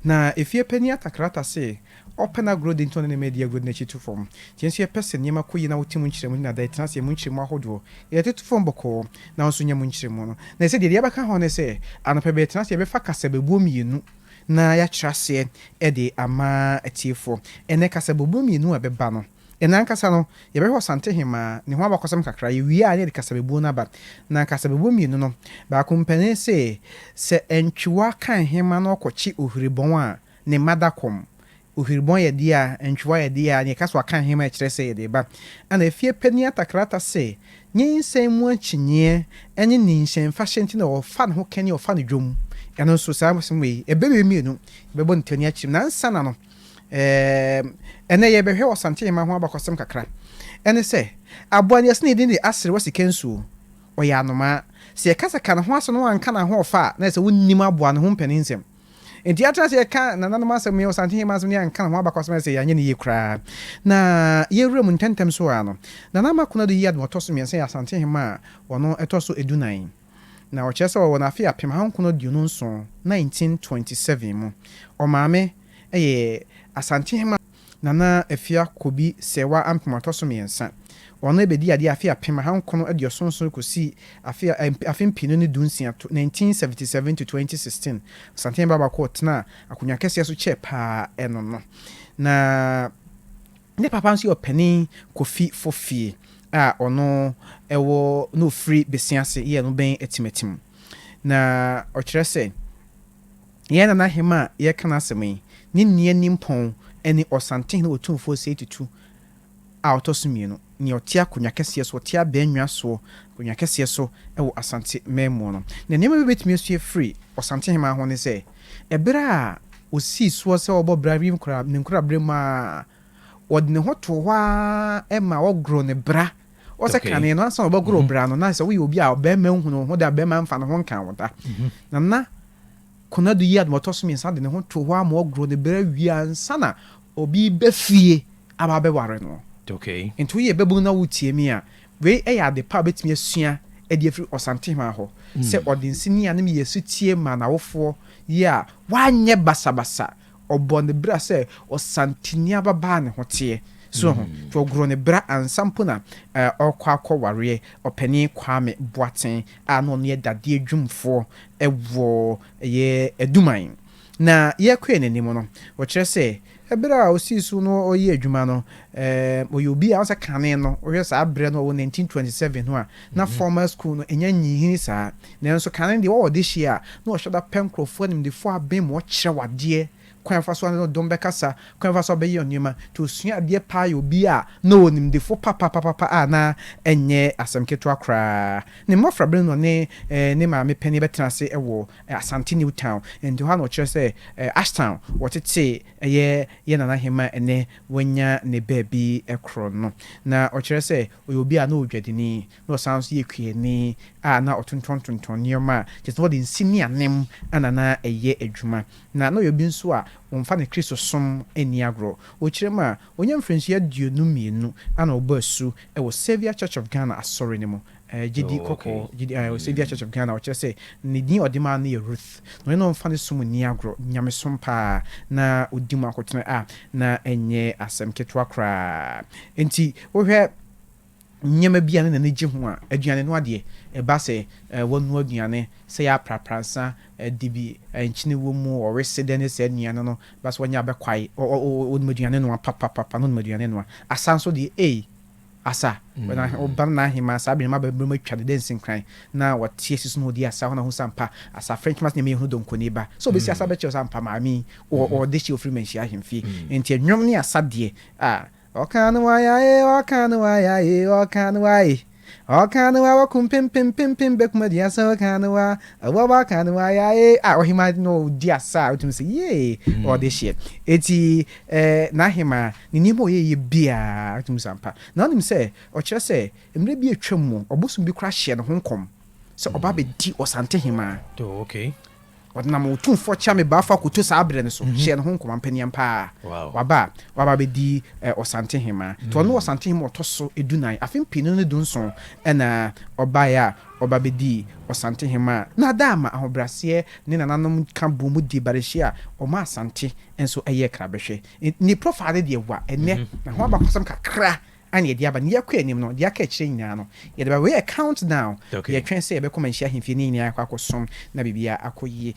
Na efie panyin atakrata se, Ɔpɛ n'agorɔ di nti ɔne ne mma adi agorɔ de n'akyi to fam. Nti yɛn nso yɛpɛ sɛ nneɛma kɔ yie na wote mu nkyerɛmu ne nada ɛtena aseɛ mu nkyerɛmu ahodoɔ. Yɛde toto fam bɔkɔɔ na wo nso nya mu nkyerɛmu no. Na ɛsɛ deɛ yɛde abɛka ho ne sɛ, anɔpa bɛtena ase yɛbɛfa kasabebuo mmienu na yɛakyerɛ aseɛ de ama atiefoɔ. Ɛnɛ kasabebuo mmienu a ɛbɛba no, Yɛn ankasa no, yɛbɛhwɛ Ɔsantehemaa, ne ho abakɔsɛm kakra, yɛwie a na yɛde kasabebuo no aba. Na kasabebuo mmienu no, baako mpanin se, Sɛ antwiwa ka nhema na ɔkɔkye ohwiribɔn a, ne mma da kɔm. Ohwiribɔn yɛ dea, antwiwa yɛ dea, na yɛka sɛ waka nhema a ɛkyerɛ sɛ yɛde reba. Ɛnna efie panin atakrata se, Nyinsɛn mu akyinnyeɛ ne ninhyɛnfahyɛ nti na wɔfa ne ho kɛne wɔfa no dwom. Ɛno nso, saa asɛm wei, ɛbɛ wei mmienu, yɛbɛbɔ no ti ani akyiri mu. Na ansa na no, Ɛɛ, ɛnnɛ yɛrebɛhwɛ ɔsantenema ho abakɔsɛm kakra. Ɛne sɛ, aboa no, yɛse ne din de aserewa sikansuo. Ɔyɛ anomaa. Sɛ yɛka sɛ ka ne ho asɛm na woanka n'ahoɔfɛ a, na ayɛ sɛ wonnim aboa no ho mpaninnsɛm. Enti yɛatena ase yɛka nananom asɛm ne ɔsantenema asɛm na yɛanka ne ho abakɔsɛm a, ayɛ sɛ yɛanyɛ no yie koraa. Na yɛwura mu ntɛmntɛm so ara no, Nana Ama Konadu Yiadom a ɔtɔ so mmiɛnsa yɛ Asantenema a ɔno ɛtɔ so dunan. Na ɔkyerɛ sɛ ɔwɔ no afe apem ahankron aduonu nson, 1927, mu. Ɔmaame yɛ Asantehema Nana Afiakobi Serwaa Ampem Ɔtɔso Mmiɛnsa. Ɔno ɛbɛdii adeɛ afe apem ahankron aduoson nson kɔsi afe afe mpienu ne du nsia, 1977 to 2016. Asantehema Baabako a ɔtenaa akonnwa kɛseɛ so kyɛɛ paa ɛno no. Na. Ne papa nso yɛ ɔpanin Kofi Fofie a ɔno wɔ na ɔfiri Bese ase yɛ no bɛn Atimatim. Na ɔkyerɛ sɛ yɛn Nana Hema a yɛreka n'asɛm yi, ne nua nimpɔn ne Ɔsantehene Otumfoɔ Sei Tutu a ɔtɔ so mmienu, nea ɔte akonnwa kɛseɛ so, ɔte abannwa soɔ, akonnwa kɛseɛ so wɔ Asante Mmamu no. Na nneɛma bi a wobɛtumi asua afiri Ɔsantehema ho ne sɛ, Bere a osii soɔ sɛ ɔbɔ bra wim kora ne nkoraberɛ mu ara, ɔde ne ho too hɔ ara ma wɔgoroo ne bra. Wɔ sɛ Okay. kane no, ansa na wɔbɛgoro wo bra no, na sɛ woyɛ obi a ɔbarima nhunu wo ho da, ɔbarima mfa ne ho nka wo da. Na na Konadu yi adom a ɔtɔ so mmiɛnsa de ne ho too hɔ ara ma wɔgoroo ne bra wie ansa na obi reba fie aba abɛware no. Okay. Enti woyɛ babunu na woretie me a, Wei yɛ ade pa a wobɛtumi asua de afiri Ɔsantehema hɔ, sɛ ɔde nsini a ne mu yɛ sotie maa n'awofoɔ yi a wanyɛ basabasa, ɔbɔɔ ne bra sɛ ɔsanteni ababaa ne ho teɛ. So wahu? Nti ɔgoroo ne bra ansa mpo na ɔrekɔ akɔwareɛ Ɔpanin Kwame Boateng a na ɔno yɛ dadeɛ dwumfoɔ wɔ ɛyɛ Aduman. Na yɛkɔɛ n'anim no, ɔkyerɛ sɛ, ɛberɛ a ɔsii so no ɔyɛ adwuma no, ɛɛm, ɔyɛ obi a ɔsɛ kane no, wohwɛ saa berɛ no, ɔwɔ 1927 no a, na formal school no ɛnya nyinhini saa, nanso kane deɛ ɔwɔ ɔdehyeɛ a, na ɔhyɛ da pɛ nkorɔfoɔ animdefoɔ abɛn mu, ɔkyerɛ wo adeɛ, kwan a ɔfa so ne no dom bɛkasa, kwan a ɔfa so bɛyɛ nneɛma, nti ɔsua adeɛ paa yɛ obi a na ɔwɔ nimdefoɔ papapapapa a na ɛnyɛ asɛm ketewa koraa. Ne mmɔfra berɛ no na ɔne, ɛɛm, ne maame panin bɛtena ase wɔ Asante New Town, nti hɔ a na wɔkyerɛ sɛ Ashtown wɔtetee ɛyɛ yɛn Nana Ahemaa ɛnnɛ wanya ne baabi korɔ no. Na wɔkyerɛ sɛ ɔyɛ obi a na ɔyɛ odwadini, na ɔsan nso yɛ kuani a na ɔtontɔn tontɔn nneɛma a kyerɛ sɛ na ɔde nsi ne anem na na ɛyɛ adwuma. Na na ɔyɛ obi nso a ɔmfa ne Kristosom nni agorɔ. Wɔkyerɛ mu a, ɔnya mfirinsua aduonu mmienu a na ɔbɔ asu wɔ Saviour Church of Ghana Asɔre no mu Ɛyɛ gyidi kɔkɔɔ, gyidi a ɛwɔ Saviour Church of Ghana, ɔkyerɛ sɛ ne din a ɔde maa no yɛ Ruth, na ɔne no mfa ne som nni agorɔ, nyamesom paa na ɔdi mu akotena a na ɛnyɛ asɛm ketewa koraa. Enti wohwɛ nneɛma bi a ne n'ani gye ho a, aduane noa deɛ, ɛba sɛ wanoa aduane, sɛ yɛ aprapra nsa adi bi, nkyene wɔ mu, ɔwe se dɛn ne saa nnuane no, ɛba sɛ wanya abɛkwae, ɔnim aduane noa papapapa, na ɔnim aduane noa. Asa nso deɛ, ei! Asa, wɔ na wɔba no n'ahenman saa bere no mma bɛbrɛm atwa ne dansi nkran na wɔte asi so na wɔdi asa hɔ na ɔhu sɛ ampa asa frɛ ntwema sɛ nea meyɛhunu donkoni ba sɛ ɔbɛsi asa bɛkyerɛ sɛ ampa maame yi wɔ wɔ ɔde hye ɔfiri manhyia ahemfie enti ɛnwom ne asa deɛ a Ɔka no waya e, ɔka no waya e, ɔka no wa e. Ɔka no wa wakum pem pem pem pem bɛkum aduasa ɔka no wa awɔ waka no waya e a ɔhema na ɔdi asa a wotumi sɛ yee ɔde hyeɛ eti eh, n'ahema Ne nneɛma a ɔyɛeɛ biara, ɔtumi sa ampa. Na wonim sɛ ɔkyerɛ sɛ mmerɛ bi a atwam mu, ɔbosom bi koraa hyɛɛ ne ho nkɔm sɛ ɔba abɛdi ɔsantehemaa. Oh, okay. Ɔdenam Otumfoɔ Kyame Baa Fa Koto saa berɛ no so hyɛɛ ne ho nkɔm, ampa ni ampa ara, Wow. waba a, waba abɛdi eh, ɔsantehemaa. Nti ɔno ne ɔsantehemaa a ɔtɔ so dunan. Afe mpenu no ne dunson na ɔbaeɛ a ɔba bɛdii ɔsantehemaa. Na Adaama ahobrɛaseɛ ne nananom ka boom dii barehyia a ɔmaa Asante nso yɛɛ krabɛhwɛ. Ne profile no deɛ wa ɛnɛ na ho abakɔsɛm kakra ana yɛde aba ne yɛkɔ anim no deɛ aka akyire nyinaa no yɛde ba wei yɛ count down yɛtwɛn sɛ yɛbɛkɔ manhyia ahemfie ne nyinaa akɔ akɔsom na biribiara akɔ yie.